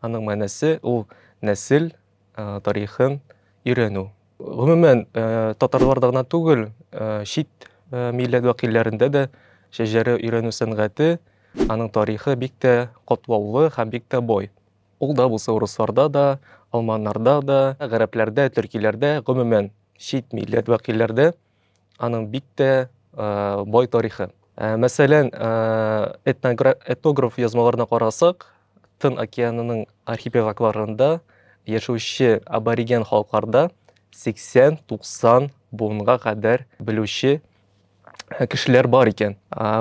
Аның мәнесе ул нәсел тарихын өйрәнү. Гомумән, татарларда гына түгел, чит милләт вәкилләрендә дә шәҗәрә өйрәнү сәнгате, аның тарихы бик тә катлаулы һәм бик тә бай. Ул да булса урысларда да, алманнарда да, гарәпләрдә, төркиләрдә, гомумән, чит милләт вәкилләрдә Аның бик тә бай тарихы. Мәсәлән, этнограф язмаларына карасак, Тын океанының архипелагларында яшәүче абориген халыкларда 80-90 буынга кадәр белүче кешеләр бар икән.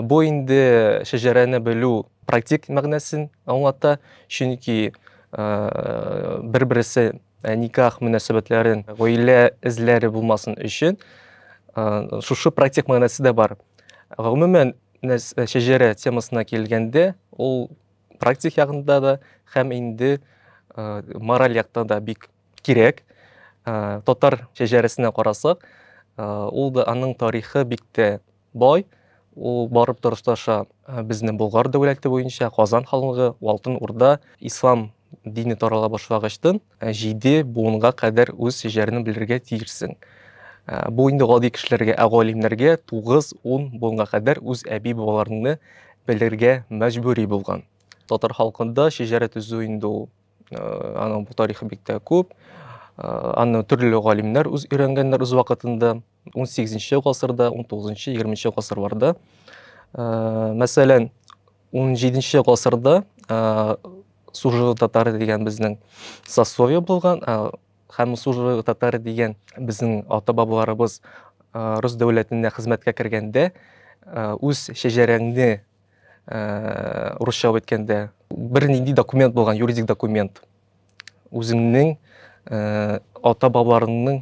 Бу инде шәҗәрәне белү практик мәгънәсен аңлата, чөнки бер-берсе Ә никах мөнәсәбәтләрен гаилә эзләре булмасын өчен шушы практик мәгънәсе дә бар. Гомумән, шәҗәрә темасына килгәндә, ул практик ягында да һәм инде мораль якта да бик кирәк. Татар шәҗәрәсенә карасак, ул да аның тарихы бик тә Бай, ул барып торышташа безнең Болгар дәүләте буенча Казан ханлыгы, Алтын Урда, ислам дине тарала башлагычтын җиде буынга кадәр үз җәрен белергә тиешсең. Бу инде гади кешеләргә, ә галимнәргә 9-10 буынга кадәр үз әби бабаларыңны белергә мәҗбүри булган. Татар халкында шәҗәрә төзү инде ул аның бу тарихы бик тә күп. Аны төрле галимнәр үз өйрәнгәннәр үз вакытында. 18-нче гасырда, 19-нчы, 20-нчы гасырларда. Э, мәсәлән, 17-нче гасырда э, Сужы татары дигән безнең сословие булган, э, һәм Сужы татары дигән безнең ата-бабаларыбыз рус дәүләтенә хезмәткә кергәндә үз шәҗәрәңне русча әйткәндә бер нинди документ булган, юридик документ. Үзеңнең ата-бабаларыңның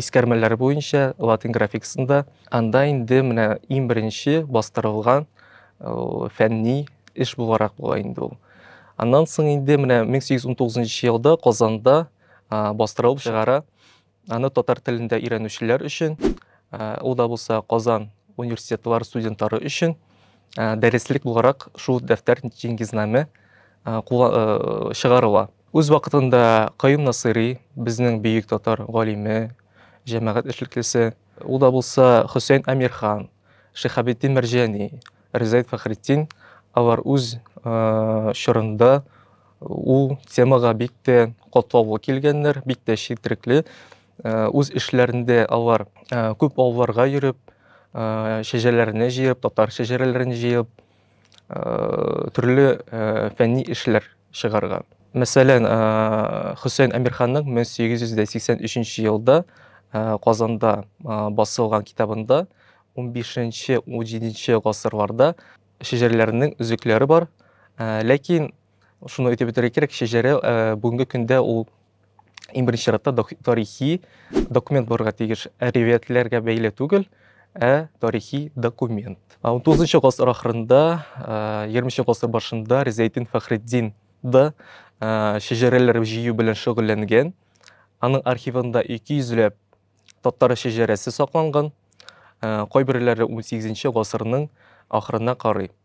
искәрмәләре буенча латин графикасында. Анда инде менә иң беренче бастырылган фәнни эш буларак була инде ул. Аннан соң инде менә 1819 елда Казанда бастырылып чыгара. Аны татар телендә өйрәнүчеләр өчен, ул да булса Казан университетлары студентлары өчен дәреслек буларак шул дәфтәр Җиңгизнаме чыгарыла. Үз вакытында Каюм Насыйри, безнең бөек татар галиме, җәмәгать эшлеклесе, ул да булса Хөсәен Әмирхан, Шиһабетдин Мәрҗани, Ризаэт Фәхретдин, алар үз чорында ул темага бик тә катлаулы килгәннәр, бик тә четерекле. Үз эшләрендә алар күп авылларга йөреп, шәҗәрәләрне җыеп, татар шәҗәрәләрен җыеп, төрле фәнни эшләр чыгарган. Мәсәлән, Хөсәен Әмирханның 1883 елда Казанда басылган китабында 15-17 гасырларда шәҗәрәләрнең өзекләре бар. Ләкин шуны әйтеп үтәргә кирәк, шәҗәрә бүгенге көндә ул иң беренче чиратта тарихи документ булырга тиеш. Ә ривәятләргә бәйле түгел, ә тарихи документ. 19 гасыр ахырында, 20 гасыр башында Ризәйтдин Фәхретдин да шәҗәрәләр җыю белән шөгыльләнгән. Аның архивында 200 ләп татар шәҗәрәсе сакланган. Кайберләре 18 гасырның ахырына карый.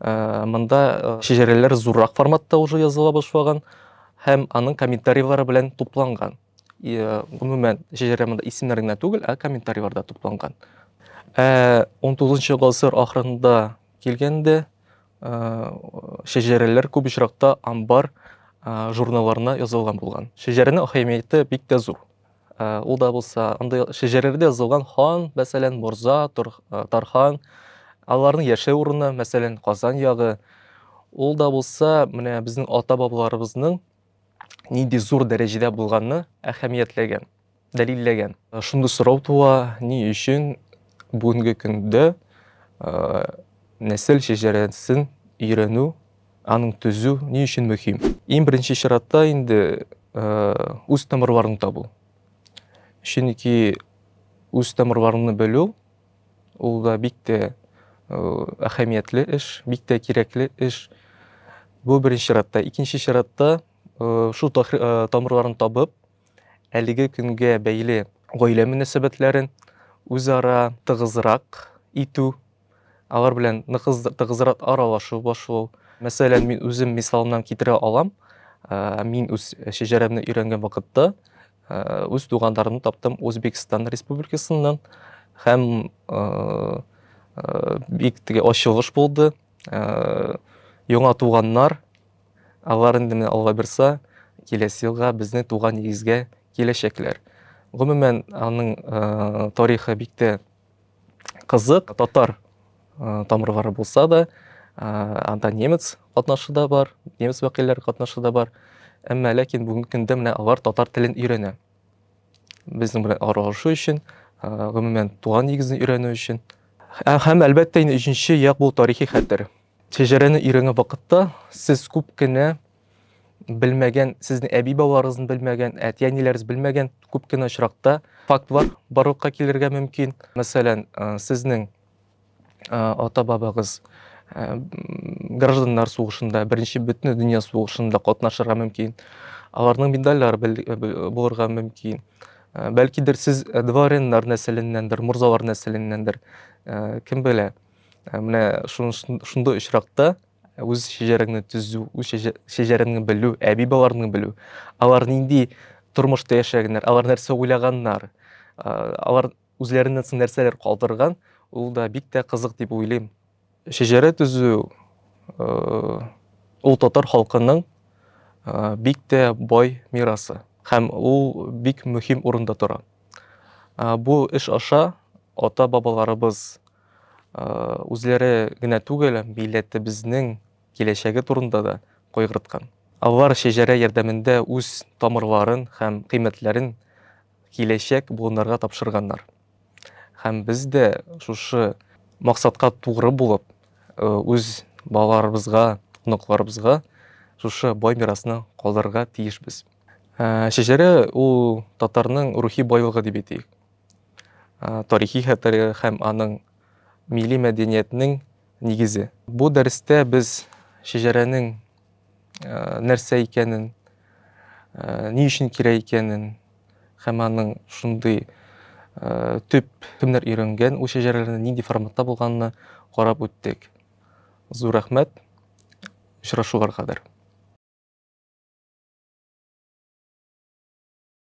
Э, монда э, шәҗәрәләр зуррак форматта уже языла башлаган һәм аның комментарийлары белән тупланган э, гомумән шәҗәрә монда исемнәр генә түгел ә комментарийлар да тупланган ә он тугызынчы гасыр ахырында килгәндә шәҗәрәләр күп очракта амбар журналларына язылган булган шәҗәрәнең әһәмияте бик тә зур Ул да булса, андый шәҗәрәләрдә язылган хан, мәсәлән, морза, тархан, аларның яшәү урыны, мәсәлән, Казан ягы. Ул да булса, менә безнең ата-бабаларыбызның нинди зур дәрәҗәдә булганны әһәмиятләгән, дәлилләгән. Шундый сорау туа, ни өчен бүгенге көндә нәсел шәҗәрәсен өйрәнү Аның төзү ни өчен мөһим? Иң беренче чиратта инде үз тамырларын табу. Чөнки үз тамырларыңны белү ул да бик тә әһәмиятле эш, бик тә кирәкле эш. Бу беренче чиратта. Икенче чиратта шул тамырларын табып, әлеге көнгә бәйле гаилә мөнәсәбәтләрен үзара тыгызрак итү Алар белән нык тыгызрак аралашу башлау. Мәсәлән, мин үзем мисалымнан китерә алам. Мин үз шәҗәрәмне өйрәнгән вакытта үз туганнарымны таптым Үзбекстан республикасыннан һәм бик теге ачылыш булды. Яңа туганнар, алар инде менә Алла бирса, киләсе елга безнең туган нигезгә киләчәкләр. Гомумән, аның тарихы бик тә кызык татар тамырлары булса да анда немец катнашы да бар немец вәкилләре катнашы да бар әмма ләкин бүгенге көндә менә алар татар телен өйрәнә безнең белән аралашу өчен гомумән туган нигезне өйрәнү өчен һәм әлбәттә инде өченче як бул тарихи хәтер шәҗәрәне өйрәнгән вакытта сез күп кенә белмәгән, сезнең әби-бабаларыгызны белмәгән, әти-әниләрегез белмәгән күп кенә очракта фактлар барлыкка килергә мөмкин. Мәсәлән, сезнең ата-бабагыз гражданнар сугышында, беренче бөтен дөнья сугышында катнашырга мөмкин. Аларның медальләре булырга мөмкин. Бәлкидер сез дворяннар нәселеннәндер, морзалар нәселеннәндер, кем белә. Менә шундый очракта үз шәҗәрәңне төзү, үз шәҗәрәңне белү, әби-баларны белү, алар нинди тормышта яшәгәннәр, алар нәрсә уйлаганнар, алар үзләреннән соң нәрсәләр калдырган, ул да бик тә кызык дип уйлыйм. Шәҗәрә төзү ул татар халкының бик тә бай мирасы һәм ул бик мөһим урында тора. Бу эш аша ата-бабаларыбыз үзләре генә түгел, милләтебезнең киләчәге турында да кайгырткан. Алар шәҗәрә ярдәмендә үз тамырларын һәм кыйммәтләрен киләчәк буыннарга тапшырганнар. Һәм без дә шушы максатка тугры булып, үз балаларыбызга, оныкларыбызга шушы бай мирасны калдырырга тиешбез. Шәҗәрә ул татарның рухи байлыгы дип әйтик. Тарихи хәтере һәм аның милли мәдәниятнең нигезе. Бу дәрестә без шәҗәрәнең нәрсә икәнен, ни өчен кирәк икәнен һәм аның шундый төп кемнәр өйрәнгән ул шәҗәрәләрне, нинди форматта булганны карап үттек. Зур рәхмәт. Очрашуга кадәр.